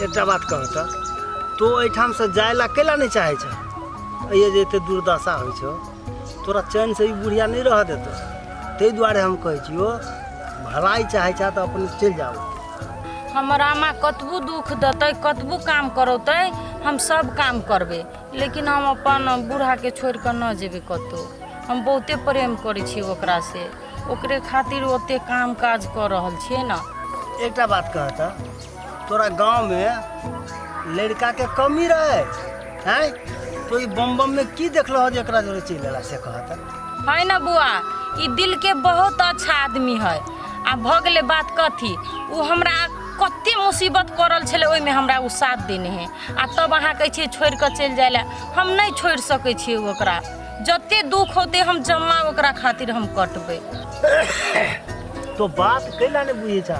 एकटा बात कह त तो एठाम से जाय ला कैला नहीं चाहे छ ये जे एते दुर्दशा होइ छौ तोरा चैन से ई बुढ़िया नहीं रह देतो ताहि दुआरे हम कहै छियो भलाई चाहे छ त अपन चल जाओ हमर आमा कतबू दुख देतै कतबू काम करौतै हम सब काम करबै लेकिन हम अपन बूढ़ाके छोड़ि कऽ नहि जेबै कतहु हम बहुते प्रेम करै छियै ओकरासँ ओकरे खातिर ओतेक काम काज कऽ रहल छियै ने एकटा बात कह त तोरा गांव में लड़का के कमी रहे हैं तो ई बम बम में की देखलो हो जे एकरा जोरे चल गेला से कहत है ना बुआ ई दिल के बहुत अच्छा आदमी है आ भऽ गेलै बात कथी ओ हमरा कते मुसीबत पड़ल छलै ओहिमे हमरा ओ साथ देने है आ तब अहाँ कहै छियै छोड़ि कऽ चलि जाय लए हम नहि छोड़ि सकै छियै ओकरा जते दुख होते हम जमा ओकरा खातिर हम कटबै तो बात कैला ने बुझे छा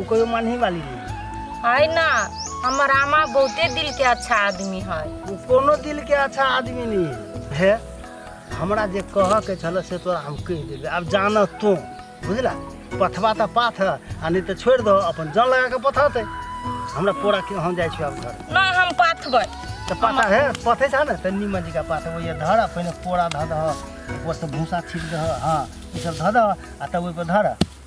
उ कोई मानही वाली नहीं है ना हमर आमा बहुते दिल के अच्छा आदमी है उ कोनो दिल के अच्छा आदमी नहीं है हे हमरा जे कह के छल से तोरा हम कह देबे अब जान तू बुझला पथवा त पाथ है आ नहीं तो छोड़ दो अपन जान लगा के पथते हमरा पूरा के हम जाय छी अब घर ना हम पाथबै तो पाथा है पथे छ न त नीमन जी का पाथ वो ये धर पहले पूरा धर दह ऊपर से भूसा छीट दह हां ई सब धर दह आ तब ओइ पर धर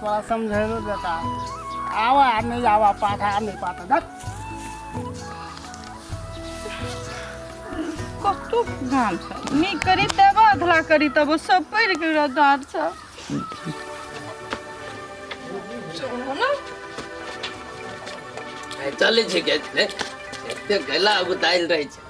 तोरा समझेलो बेटा आवा आ नहीं आवा पाठा आ नहीं पाठा देख कतु गाम छ नी करी तब अधला करी तब सब पड़ के रदार छ चलो चले छै के एते गला उताइल रहै छै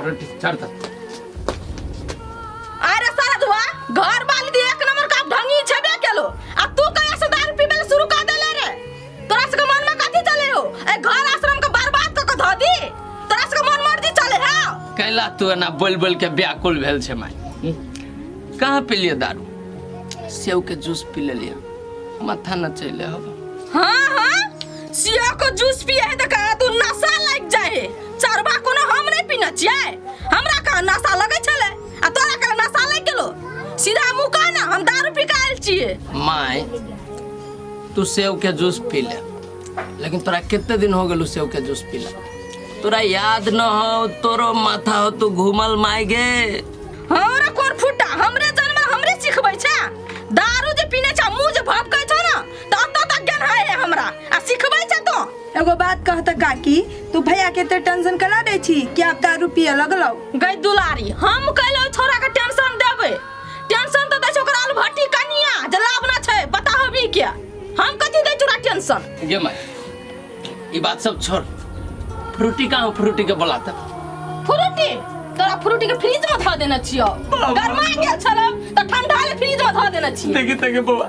अरे चढ़ तक अरे सारा धुआ घर वाली दी एक नंबर का ढंगी छबे केलो आ तू कहिया से दारू पीबे ले शुरू कर देले रे तोरा से के मन में कथी चले हो ए घर आश्रम के बर्बाद क के धो दी तोरा से के मन मर्जी चले है कैला तू एना बोल बोल के व्याकुल भेल छै माय हम्म? कहाँ पी लियो दारू सेव के जूस पी ले लियो माथा न चले हो हाँ हाँ सिया को जूस पिए है त कहा तू नशा लग जाए है चरबा कोनो हम नहीं पीना चाहिए हमरा का नशा लगे छले आ तोरा का नशा लग गेलो सीधा मुंह कह ना हम दारू पी के आयल छिए माय तू सेव के जूस पी ले लेकिन तोरा कितने दिन हो गेलू सेव के जूस पी ले तोरा याद न हो तोरो माथा हो तू घूमल माय गे हमरा कोन फुटा हमरे जन्म हमरे सिखबै छा दारू जे पीने छा मुंह जे भपकै तत तक ज्ञान है रे हमरा आ सिखबै छै तो एगो बात कह त काकी तू भैया के ते टेंशन कला दै छी कि आप दारू पिए लगलौ गई दुलारी हम कहलो छोरा के टेंशन देबे टेंशन तो दै छै ओकरा आलू भट्टी कनिया जे लावना छै पता होबी के हम कथी दै छोरा टेंशन ये माय ये बात सब छोड़ फ्रूटी कहाँ हो? फ्रूटी के बोला था फ्रूटी तोरा फ्रूटी के फ्रिज में धऽ देने छियो गरमा गेल छलौ तऽ ठंडा ले फ्रिज में धऽ देने छियो देखी तक बउआ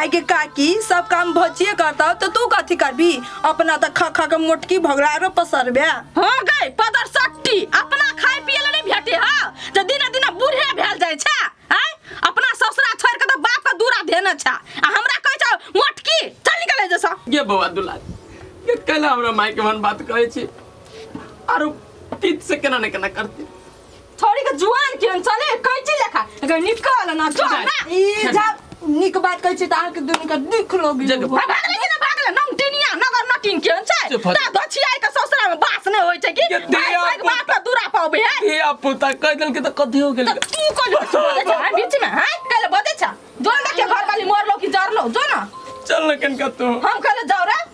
आइ के काकी सब काम भचिए करता तो तू कथी करबी अपना त खा खा के मोटकी भगलारो पसरबे हो गई पदर सट्टी अपना खाए पिए ले नहीं भेटे हा जे दिने दिने बूढ़े भेल जाय छा आय अपना ससुरा छोड़ के तो बाप का दूरा धेने छा आ हमरा कहे छा मोटकी चल निकले जैसा ये बौआ दुलार ये कल हमरा माय के मन बात कहै छी आरो तीत से केना ने केना करती छोड़ी के जुआन केहन छले कैची लेखा एकर निकल ना जो ना ई जब निक बात कहै छी त अहाँ के दुनु के दुख लोग जग- भाग ले कि ना भाग ले नम टिनिया नगर नटिन केहन छै चुप हो जा। ता गछिया के ससुरा में बास नै होय छै कि ये भाग दिया भाग बात का दूरा पाबे है हे आप पोता कह देल के त कथि हो गेल त तू कोन बजे छ बीच में है कल बजे छ जो ना के घर वाली मोर लो कि जर लो जो ना चल न कनका तो हम कल जाऊ रे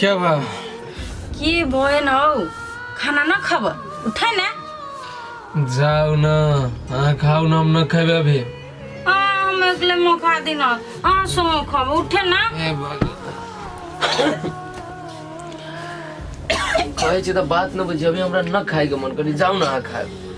क्या बा की भएन हौ खाना न खब उठै न जाऊ न अहाँ खाऊ न हम न खेबे अभी आ हम एकले म खा दिन आ सो खब उठे न ए बाबा। कहै छी तऽ बात न बुझी अभी हमरा न खाएके मन करी जाऊ न अहाँ खाएब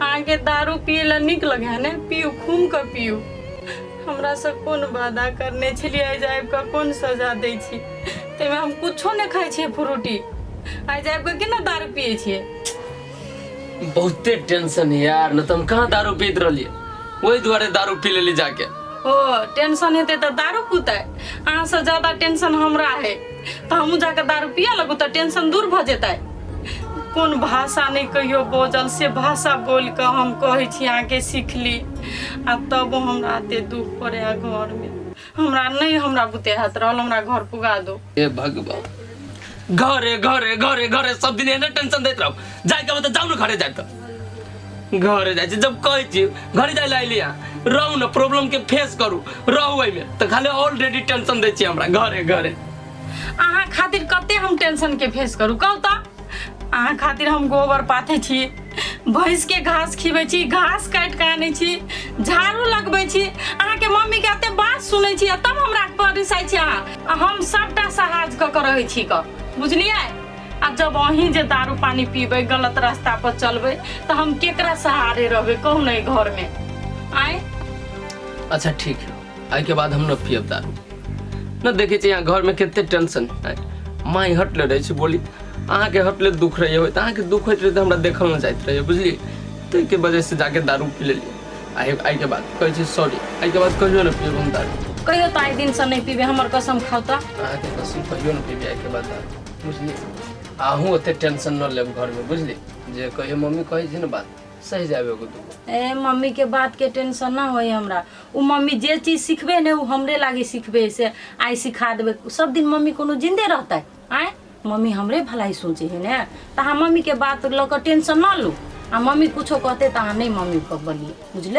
अहाँके दारू पियै लए नीक लगे है ने पियू घूम कऽ पियू हमरा से कोन वादा करने छलियै आइ जाबि कऽ कोन सजा दै छी ताहिमे हम कुछो नहि खाइ छियै फ्रूटी आइ जाबि कऽ केना दारू पियै छियै बहुते टेंशन है यार न तो हम कहाँ दारू पीत रहिए वही दुआरे दारू पी लेली जाके ओ टेंशन हेतै तऽ दारू पुतै अहाँसँ ज्यादा टेंशन हमरा है तऽ हमहूँ जाकऽ दारू पिए लगू तऽ टेंशन दूर भऽ जेतै कोन भाषा नहि कहियो बजल से भाषा बोल कऽ हम कहै छी अहाँके सीखली आ तब हमरा एते दुख पड़े है घर में हमरा नहि हमरा बुते हाथ रहल हमरा घर पुगा दो हे भगवान घरे घरे घरे घरे सब दिन एने टेंशन दैत रहब जाए के बा तऽ जाउ ने घरे जाए तऽ घर जाए जब कहे छी घर जाए ला लिया रहू ना प्रॉब्लम के फेस करू रहू एहिमे तऽ खाली ऑलरेडी टेंशन दै छी हमरा घरे घरे अहाँ खातिर कते हम टेंशन के फेस करू कहू तऽ अहाँ खातिर हम गोबर पाथे छी भैंस के घास खिबै छी घास काटि कऽ आनै छी झाड़ू लगबै छी अहाँके मम्मी के एते बात सुनै छी आ तब हमरा पर रिसाइ छी अहाँ आ हम सभटा सहाज कऽ कऽ रहै छी कऽ बुझलियै आ जब अहीं जे दारू पानी पीबै गलत रास्ता पर चलबै तऽ हम केकरा सहारे रहबै कहू ने एहि घर में आए अच्छा ठीक है आई के बाद हम न पियब दारू न देखे छी यहाँ घर में कितने टेंशन है माई हट ले रही छी बोली अहाँ के हट ले दुख रही हो अहाँ के दुख होत रहे हमरा देखल न जात रहे बुझली ताहि के वजह से जाके दारू पी लेली आई आई के बाद कहै छी सॉरी आई के बाद कहियो न पियब हम दारू कहियो तऽ आइ दिन से नहि पीबे हमर कसम खाउ तऽ अहाँ के कसम कहियो न पीबी आई के बाद दारू बुझली आहू ओते टेंशन न लेब घर में बुझली जे कहियो मम्मी कहै छै ने बात सही जाबे एगो दूगो ए मम्मी के बात के टेंशन ना होई हमरा उ मम्मी जे चीज सिखबे ने उ हमरे लागी सिखबे से आई सिखा देबे सब दिन मम्मी कोनो जिंदे रहते आय मम्मी हमरे भलाई सोचे है ने तो हम मम्मी के बात ल के टेंशन ना लू आ मम्मी कुछो कहते तो अहाँ नहीं मम्मी को बोलिए बुझल